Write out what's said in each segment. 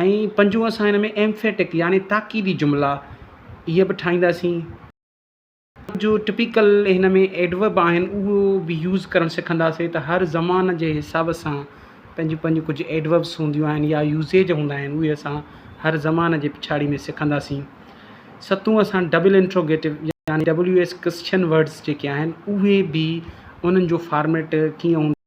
۽ پنجون اسان هن ۾ ايمفيٽڪ يعني تاڪيدي جملا اهي به ٺاهينداسين. جو ٽپيڪل هن ۾ ايڊورب آهن اهو به يوز ڪرڻ سکنداسين ته هر زمان جي حساب سان پنهنجون پنهنجون ڪجهه ايڊوربس هونديون آهن يا يوزيج هوندا آهن اهي اسان هر زمان جي پڇاڙي ۾ سکنداسين. ستون اسان ڊبل انٽروگيٽو يعني WS ڪسچن ورڊس جيڪي آهن اهي به انهن جو فارميٽ ڪيئن هوندو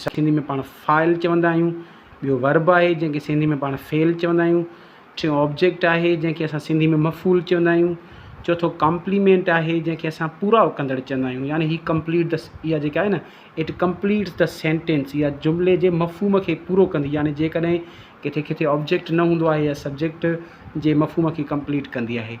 سنڌي ۾ پاڻ فاعل چوندا آهيون، ٻيو ورب آهي جنهن کي سنڌي ۾ پاڻ فعل چوندا آهيون، ٽيون آبجيڪٽ آهي جنهن کي اسان سنڌي ۾ مفعول چوندا آهيون، چوٿون ڪمپليمينٽ آهي جنهن کي اسان پورائو ڪندڙ چوندا آهيون يعني هي ڪمپليٽ دس اها جيڪا آهي نه اٽ ڪمپليٽس د سينٽينس اها جملي جي مفهوم کي پورو ڪندي يعني جيڪڏهن ڪٿي ڪٿي آبجيڪٽ نه هوندو آهي يا سبجيڪٽ جي مفهوم کي ڪمپليٽ ڪندي آهي.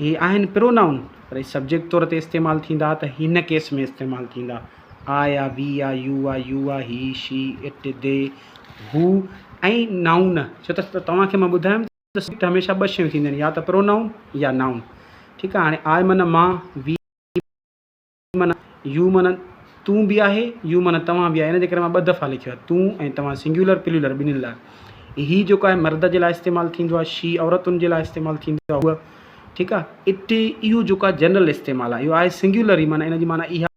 هي آهن پرونائون پر هي سبجيڪٽ طور تي استعمال ٿيندا ته هن ڪيس ۾ استعمال ٿيندا، I are, we are, you are, you are, he, she, it, they, who ۽ noun ڇو ته توهان کي مان ٻڌايم ته سبجيڪٽ هميشه ٻه شيون ٿينديون آهن يا ته پرونائون يا نائون ٺيڪ آهي هاڻي آء معنيٰ مان، وي، من، يو من تون به آهي، يو من توهان به آهي ان جي ڪري مان ٻه دفعا لکيو آهي تون ۽ توهان سنگيولر پليولر ٻنهين لاء. هي جيڪو آهي مرد جي لاء استعمال ٿيندو آهي شي عورتن جي لاء استعمال ٿيندو آهي هوء ٺيڪ آهي اٽ اهو جيڪو آهي جنرل استعمال آهي اهو آهي سنگيولر ئي معنيٰ ان جي معنيٰ اها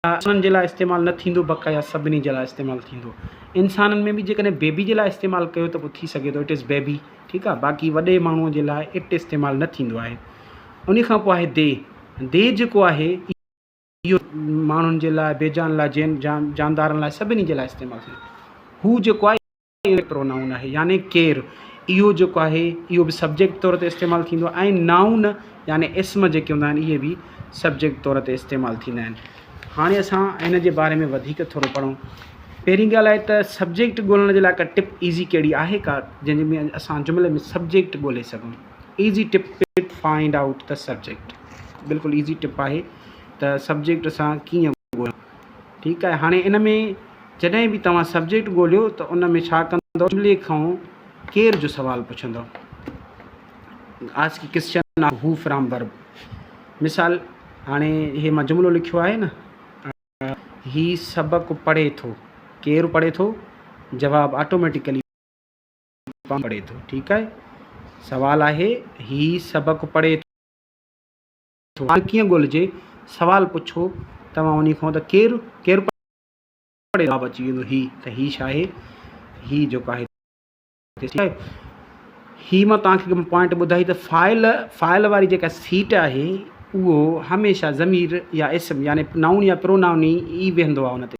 انسانن جي لاء استعمال نه ٿيندو بقايا سڀني جي لاء استعمال ٿيندو انسانن ۾ به جيڪڏهن بيبي جي لاء استعمال ڪيو ته پوء ٿي سگهي ٿو اٽ از بيبي ٺيڪ آهي باقي وڏي ماڻهوء جي لاء اٽ استعمال نه ٿيندو آهي ان کان پوء آهي دي ديھ جيڪو آھي اھو ماڻھن جي لاء بيجان لاء جين جاندارن لاء سڀني جي لاء استعمال ٿئي ھو جيڪو آھي اھو پرونائون آھي يعني ڪير اھو جيڪو آھي اھو به سبجيڪٽ طور تي استعمال ٿيندو آھي ۽ نائون يعني اسم جيڪي ھوندا آھن اھي به سبجيڪٽ طور تي استعمال ٿيندا آھن ھاڻي اسان ان جي باري ۾ وڌيڪ ٿورو پڙھون پهرين ڳالهه آهي ته سبجيڪٽ ڳولڻ جي لاء ڪا ٽپ ايزي ڪهڙي آهي ڪا جنهنجي ۾ اسان جملي ۾ سبجيڪٽ ڳولي سگهون easy tip tip find out ته سبجيڪٽ بلڪل ايزي ٽپ آهي ته سبجيڪٽ اسان ڪيئن ڳوليون ٺيڪ آهي هاڻي ان ۾ جڏهن به توهان سبجيڪٽ ڳوليو ته ان ۾ ڇا ڪندو جملي کان ڪير جو سوال پڇندو ask question of who from verb مثال هاڻي هي مان جملو لکيو آهي نه هي سبق پڙهي ٿو ڪير پڙهي ٿو جواب آٽوميٽيڪلي پنهنجو پڙهي ٿو ٺيڪ آهي سوال آهي هي سبق پڙهي ٿو سوال ڪيئن ڳولهجي سوال پڇو توهان انهي کان ته ڪير ڪير پڙهي جواب اچي ويندو هي ته هي ڇا آهي هي جيڪو آهي هي مان توهان کي پوائنٽ ٻڌائي ته فائل فائل واري جيڪا سيٽ آهي اهو هميشه ضمير يا اسم يعني نائون يا پرونائون ئي ويهندو آهي ان تي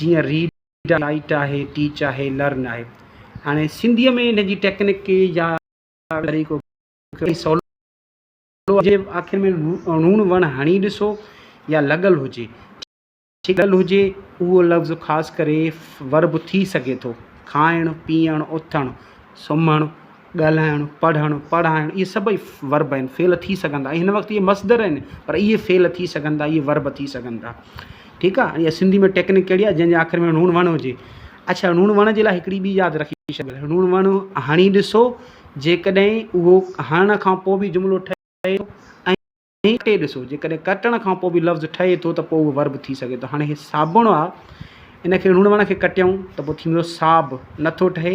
جيئن ريڊ آهي، رائيٽ آهي، ٽيچ آهي، لرن آهي. هاڻي سنڌيء ۾ ان جي ٽيڪنڪ يا طريقو ڪيترو سولو آهي جي آخر ۾ لوڻ وڻ هڻي ڏسو يا لڳل هجي. ٺيڪ لڳل هجي اهو لفظ خاص ڪري ورب ٿي سگهي ٿو، کائڻ، پيئڻ، اٿڻ، سمهڻ، ڳالهائڻ، پڙهڻ، پڙهائڻ اهي سڀئي ورب آهن، فعل ٿي سگهن ٿا ۽ هن وقت اهي مصدر آهن پر اهي فعل ٿي سگهن ٿا، اهي ورب ٿي سگهن ٿا. ٺيڪ آ ۽ سنڌي ۾ ٽيڪنڪ ڪهڙي آهي جنهن جي آخر ۾ ڻوڻ وڻ هجي. اڇا ڻوڻ وڻ جي لاء هڪڙي ٻي ياد رکي ڇڏيو ڻوڻ وڻ هڻي ڏسو جيڪڏهن اهو هڻڻ کان پوء به جملو ٺهي ٿو ۽ ڪٽي ڏسو جيڪڏهن ڪٽڻ کان پوء به لفظ ٺهي ٿو ته پوء اهو ورب ٿي سگهي ٿو. هاڻي هي صابڻ آ ان کي ڻوڻ وڻ کي ڪٽيائون ته پوء ٿيندو صاب نٿو ٺهي.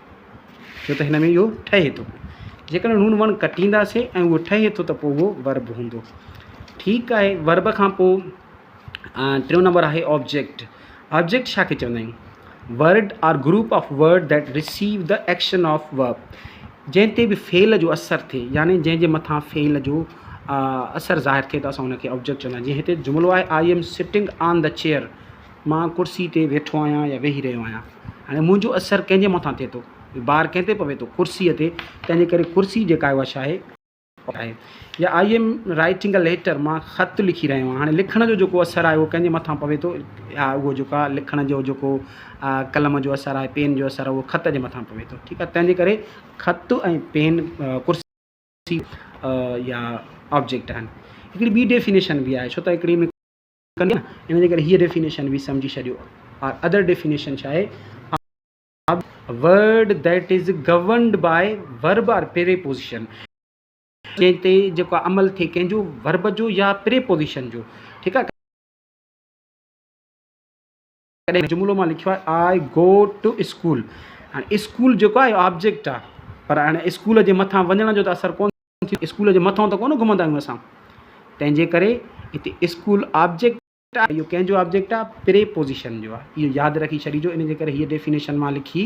ڇو ته هن ۾ اهو ٺهي ٿو. جيڪڏهن هن وڻ ڪٽينداسين ۽ اهو ٺهي ٿو ته پوء اهو ورب هوندو. ٺيڪ آهي ورب کان پوء ٽيون نمبر آهي آبجيڪٽ. آبجيڪٽ ڇا کي چوندا آهيون؟ Word or group of word that receive the action of verb. جنهن تي به فعل جو اثر ٿئي يعني جنهن جي مٿان فعل جو اثر ظاهر ٿئي ته اسان ان کي آبجيڪٽ چوندا آهيون. جيئن هتي جملو آهي I am sitting on the chair. مان ڪرسي تي ويٺو آهيان يا ويهي رهيو آهيان هاڻي منهنجو اثر ڪنهن جي مٿان ٿئي ٿو بار ڪنهن تي پوي ٿو ڪرسيء تي تنهنجي ڪري ڪرسي جيڪا آهي اها ڇا آهي آهي يا I am writing a letter مان خط لکي رهيو آهيان هاڻي لکڻ جو جيڪو اثر آهي اهو ڪنهن جي مٿان پوي ٿو يا اهو جيڪو آهي لکڻ جو جيڪو قلم جو اثر آهي پين جو اثر آهي اهو خط جي مٿان پوي ٿو ٺيڪ آهي تنهنجي ڪري خط ۽ پين ڪرسي يا آبجيڪٽ آهن هڪڙي ٻي ڊيفينيشن به آهي ڇو ته هڪڙي ڪن ٿا ان جي ڪري هيء ڊيفينيشن به سمجهي ڇڏيو آر ادر ڊيفينيشن ڇا آهي of word that is governed by verb or preposition جنهن تي جيڪو عمل ٿئي ڪنهن جو ورب جو يا پري پوزيشن جو ٺيڪ آهي تڏهن هن جملو مان لکيو آهي آء گو ٽو اسڪول. هاڻي اسڪول جيڪو آهي اهو آبجيڪٽ آهي پر هاڻي اسڪول جي مٿان وڃڻ جو ته اثر ڪونه ٿيندو اسڪول جي مٿئون ته ڪونه گهمندا آهيون اسان تنهنجي ڪري هتي اسڪول آبجيڪٽ آهي اهو ڪنهن جو آبجيڪٽ آهي پريپوزيشن جو آهي اهو ياد رکي ڇڏيجو ان جي ڪري هيء ڊيفينيشن مان لکي